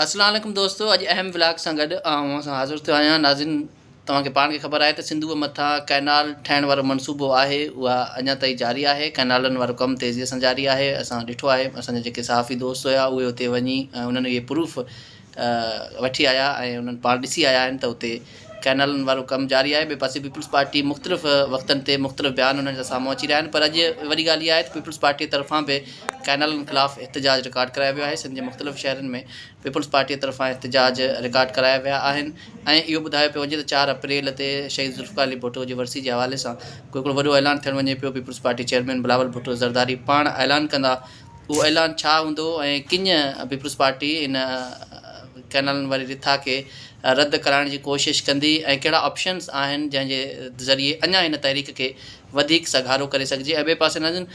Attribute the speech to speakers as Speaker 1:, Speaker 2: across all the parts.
Speaker 1: اسلام عليڪم دوستو اڄ اهم ولاگ سان گڏ آئون اوهان سان حاضر ٿيو آهيان ناظرين توهان کي پاڻ کي خبر آهي ته سنڌوء مٿان ڪئنال ٺهڻ وارو منصوبو آهي اها اڃا تائين جاري آهي ڪئنالن وارو ڪم تيزي سان جاري آهي اسان ڏٺو آهي اسان جا جيڪي صحافي دوست هيا اهي اتي وڃي انهن اهي پروف وٺي آيا ۽ انهن پاڻ ڏسي آيا آهن ته اتي ڪئنالن وارو ڪم جاري آهي، ٻئي پاسي پيپلز پارٽي مختلف وقتن تي مختلف بيان انهن جا سامهون اچي رهيا آهن پر اڄ وڏي ڳالهه اها آهي ته پيپلز پارٽي طرفان به ڪئنالن خلاف احتجاج رڪارڊ ڪرايو ويو آهي، سنڌ جي مختلف شهرن ۾ پيپلز پارٽي طرفان احتجاج رڪارڊ ڪرايا ويا آهن ۽ اهو ٻڌايو پيو وڃي ته چار اپريل تي شهيد ذوالفقار علي ڀٽو جي ورسي جي حوالي سان ڪو هڪڙو وڏو اعلان ٿيڻ وڃي پيو، پيپلز پارٽي چيئرمين بلاول ڀٽو زرداري پاڻ اعلان ڪندا. اهو اعلان ڇا هوندو ۽ ڪڃ پيپلزپارٽي ان ڪئنالن واري رٿا کي رد ڪرائڻ جي ڪوشش ڪندي ۽ ڪهڙا آپشنز آهن جنهن جي ذريعي اڃا هن تحريڪ کي وڌيڪ سگهارو ڪري سگهجي ۽ ٻئي پاسي ناظرين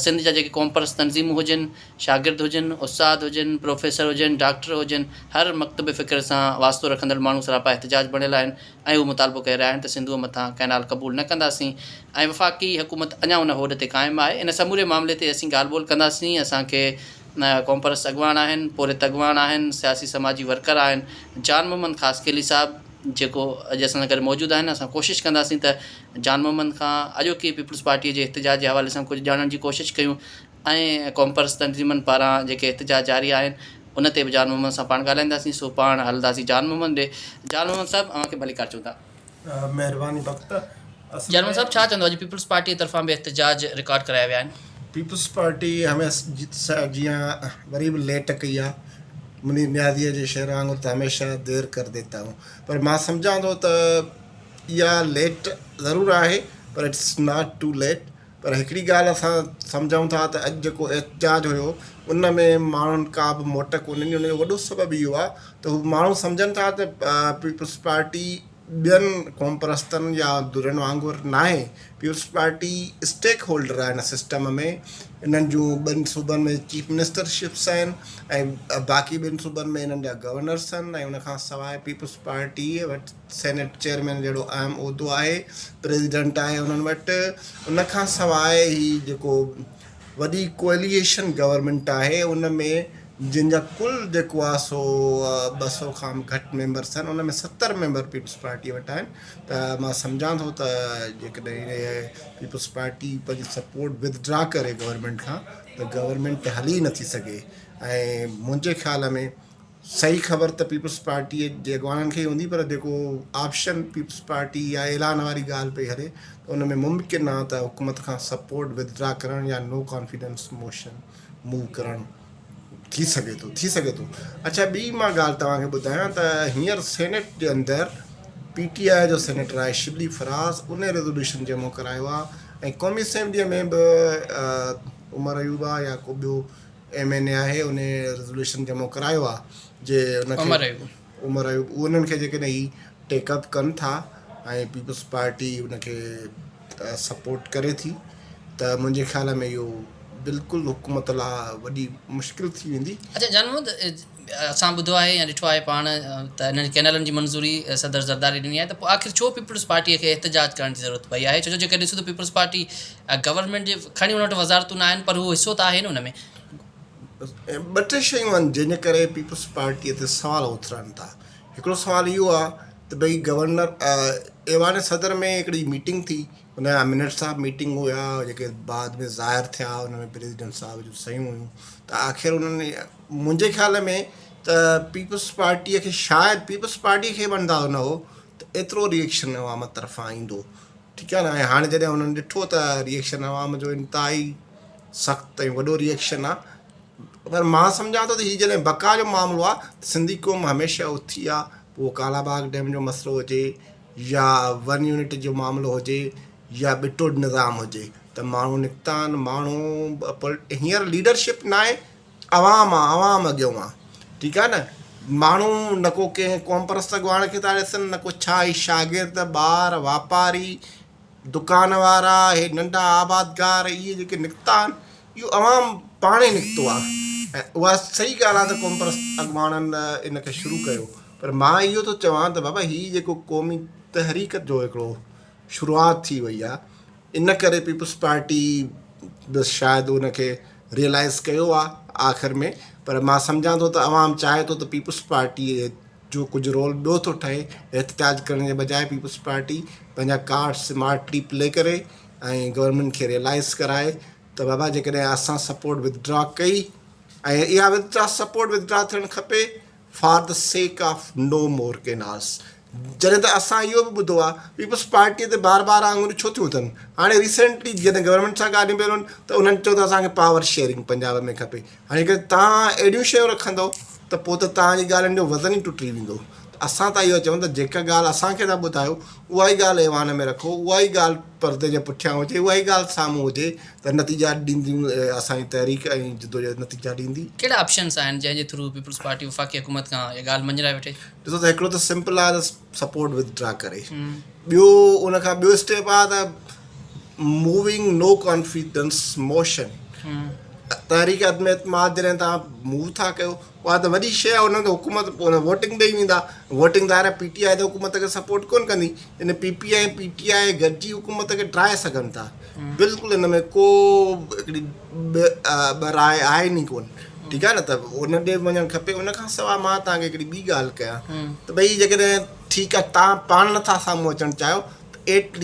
Speaker 1: سنڌ جا جيڪي قومپرست تنظيمون هجن، شاگرد هجن، استاد هجن، پروفيسر هجن، ڊاڪٽر هجن هر مڪتب فڪر سان واسطو رکندڙ ماڻهو سراپا احتجاج بڻيل آهن. ۽ هو مطالبو ڪري رهيا آهن ته سنڌوء مٿان ڪئنال قبول نه ڪنداسين ۽ وفاقي حڪومت اڃا ان هوڏ تي قائم آهي، ان سموري معاملي تي اسين ڳالهه ٻولهه ڪنداسين، اسان کي قومپرست اڳواڻ آهن، پورهيت اڳواڻ آهن، سياسي سماجي ورڪر آهن، جان محمد خاصخيلي صاحب جيڪو اڄ اسان سان گڏ موجود آهن، اسان ڪوشش ڪنداسين ته جان محمد کان اڄوڪي پيپلز پارٽيء جي احتجاج جي حوالي سان ڪجهه ڄاڻڻ جي ڪوشش ڪيون، ۽ قومپرست تنظيمن پاران جيڪي احتجاج جاري آهن ان تي به جان محمد سان پاڻ ڳالهائينداسين سو پاڻ هلنداسين جان محمد ڏي جان محمد صاحب اوهان کي ڀليڪار چون ٿا. مهرباني
Speaker 2: بخت اصل جان محمد ۾ صاحب
Speaker 1: ڇا چوندو اڄ پيپلز پارٽي طرفان به احتجاج رڪارڊ ڪرايا ويا آهن. پيپلز پارٽي
Speaker 2: هميشه جيان وري به ليٽ ڪئي آهي منير نيازيء جي شعر وانگر ته هميشه دير ڪر ديتا هون پر مان سمجهان ٿو ته اها ليٽ ضرور آهي پر اٽس ناٽ ٽو ليٽ پر هڪڙي ڳالهه اسان سمجهون ٿا ته اڄ جيڪو احتجاج هيو ان ۾ ماڻهن ڪا به موٽ ڪونهي ڏني ان جو وڏو سبب اهو آهي ته هو ماڻهو سمجهن ٿا ته پيپلز پارٽي ٻين قوم پرستن يا ڌرين وانگر ناهي پيپلز پارٽي اسٽيڪ هولڊر آهي ان سسٽم ۾ انهن جون ٻن صوبن ۾ چيف منسٽر شپس آهن ۽ باقي ٻن صوبن ۾ انهن جا گورنرس آهن ۽ ان کان سواء پيپلز پارٽي وٽ سينيٽ چيئرمين جهڙو اهم عهدو آهي، پريزيڊنٽ آهي انهن وٽ، ان کان سواء هي جيڪو وڏي ڪوئليشن گورنمينٽ آهي ان ۾ جن جا ڪل جيڪو آهي سو ٻه سؤ کان به گهٽ ميمبرس آهن ان ۾ ستر ميمبر پيپلز پارٽي وٽ آهن ته مان سمجهان ٿو ته جيڪڏهن پيپلز پارٽي پنهنجي سپورٽ وٿڊرا ڪري گورنمينٽ کان ته گورنمينٽ هلي نٿي سگهي ۽ منهنجي خيال ۾ صحيح خبر ته پيپلز پارٽيء جي اڳواڻن کي ئي هوندي پر جيڪو آپشن پيپلز پارٽي يا اعلان واري ڳالهه پئي هلي ته ان ۾ ممڪن آهي ته حڪومت کان سپورٽ وٿڊرا ڪرڻ يا نو ڪانفيڊنس موشن موو ڪرڻ ٿي سگهي ٿو ٿي سگهي ٿو اڇا ٻي مان ڳالهه توهان کي ٻڌايان ته هينئر سينيٽ جي اندر پي ٽي آء جو سينيٽر آهي شبلي فراز ان ريزولوشن جمع ڪرايو آهي ۽ قومي اسيمبليء ۾ به عمر ايوب آهي يا ڪو ٻيو ايم اين اي آهي ان ريزوليوشن جمع ڪرايو آ جي ان کي عمر ايوب عمر ايوب انهن کي جيڪڏهن هي ٽيڪ اپ ڪن ٿا ۽ پيپلز پارٽي ان کي سپورٽ ڪري ٿي ته منهنجي خيال ۾ اهو بلڪل حڪومت لا وڏي مشڪل ٿي ويندي اڇا جان محمد
Speaker 1: اسان ٻڌو آهي يا ڏٺو آهي پاڻ ته انهن ڪئنالن جي منظوري صدر زرداري ڏني آهي ته پوء آخر ڇو پيپلز پارٽيء کي احتجاج ڪرڻ جي ضرورت پئي آهي ڇو جو جيڪڏهن ڏسون ته پيپلز پارٽي گورنمينٽ جي کڻي ان وٽ وزارتون نه آهن پر هو حصو ته آهي نه ان ۾.
Speaker 2: ٻه ٽي شيون آهن جنهن جي ڪري پيپلز پارٽيء تي سوال اٿرن ٿا هڪڙو سوال اهو آهي ته ڀئي گورنر ايوان صدر ۾ هڪڙي ميٽنگ ٿي ان جا منٽس آف ميٽنگ هيا جيڪي بعد ۾ ظاهر ٿيا ان ۾ پريزيڊنٽ صاحب جون صحيحون هيون ته آخر انهن منهنجي خيال ۾ ته پيپلز پارٽيء کي شايد پيپلز پارٽيء کي به اندازو نه هو ته ايترو ريئيڪشن عوام طرفان ايندو ٺيڪ آهي نه ۽ هاڻي جڏهن انهن ڏٺو ته ريئيڪشن عوام جو انتهائي سخت ۽ وڏو ريئيڪشن آهي پر مان سمجهان ٿو ته هي جڏهن بقا جو معاملو آهي ته سنڌي قوم هميشه اٿي آهي پوء اهو ڪالا باغ ڊيم جو مسئلو هجي يا ون يونٽ جو معاملو هجي يا ٻٽوڏ نظام هجي ته ماڻهو نڪتا آهن ماڻهو هينئر ليڊرشپ ناهي عوام آ عوام اڳيون آ ٺيڪ آ نه ماڻهو نه ڪو ڪنهن قوم پرست اڳواڻ کي ٿا ڏسن نه ڪو ڇا هي شاگرد ٻار واپاري دڪان وارا هي ننڍا آبادگار اهي جيڪي نڪتا آهن اهو عوام پاڻ ئي نڪتو آ ۽ اها صحيح ڳالهه آ ته قوم پرست اڳواڻن ان کي شروع ڪيو پر مان اهو ٿو چوان ته بابا هي جيڪو قومي تحريڪ جو هڪڙو شروعات ٿي وئي آ ان ڪري پيپلز پارٽي به شايد ان کي ريئلائز ڪيو آ آخر ۾ پر مان سمجهان ٿو ته عوام چاهي ٿو ته پيپلز پارٽي جو ڪجهه رول ٻيو ٿو ٺهي احتجاج ڪرڻ جي بجاء پيپلز پارٽي پنهنجا ڪارڊ سمارٽلي پلي ڪري ۽ گورنمينٽ کي ريئلائز ڪرائي ته بابا جيڪڏهن اسان سپورٽ وٿ ڊرا ڪئي ۽ اها withdraw support withdraw ٿيڻ کپي for the sake of no more ڪيناس جڏهن ته اسان اهو به ٻڌو آهي پيپلز پارٽي تي بار بار آڱريون ڇو ٿيون اٿن هاڻي ريسينٽلي جڏهن گورنمينٽ سان ڳالهيون پيون رهن ته انهن چيو ته اسان کي پاور شيئرنگ پنجاب ۾ کپي هاڻي جيڪڏهن تان اهڙيون شيون رکندو ته پوء ته تان جي ڳالهين جو وزن ئي ٽٽي ويندو اسان ته اهو چون ته جيڪا ڳالهه اسان کي ٿا ٻڌايو اها ئي ڳالهه ايوان ۾ رکو اها ئي ڳالهه پردي جي پٺيان هجي، اها ئي ڳالهه سامهون هجي ته نتيجا ڏيندي اسان جي تحريڪ ۽ جدوجهد نتيجا ڏيندي. ڪهڙا آپشنس آهن
Speaker 3: جنهن جي ٿرو پيپلز پارٽي وفاقي حڪومت کان اها ڳالهه مڃرائي وٺي؟ ڏسو ته هڪڙو ته
Speaker 2: سمپل آهي ته سپورٽ وٿ ڊرا ڪري، ٻيو ان کان ٻيو اسٽيپ آهي ته موونگ نو ڪانفيڊنس موشن، تحريڪ عدم اعتماد جڏهن تان موو ٿا ڪيو اها ته وڏي شيء آهي، انهن کي حڪومت ووٽنگ ڏئي ويندا، ووٽنگ ظاهر آهي پي ٽي آء ته حڪومت کي سپورٽ ڪونه ڪندي، يعني P P ۽ P T I گڏجي حڪومت کي ڊاهي سگهن ٿا، بلڪل ان ۾ ڪو هڪڙي ٻه راء آهن ئي ڪونه، ٺيڪ آهي نه ته ان ڏي به وڃڻ کپي، ان کان سواء مان توهان کي هڪڙي ٻي ڳالهه ڪيان ته ڀئي جيڪڏهن ٺيڪ آهي توهان پاڻ نٿا سامهون اچڻ چاهيو ته ايٽ ليسٽ.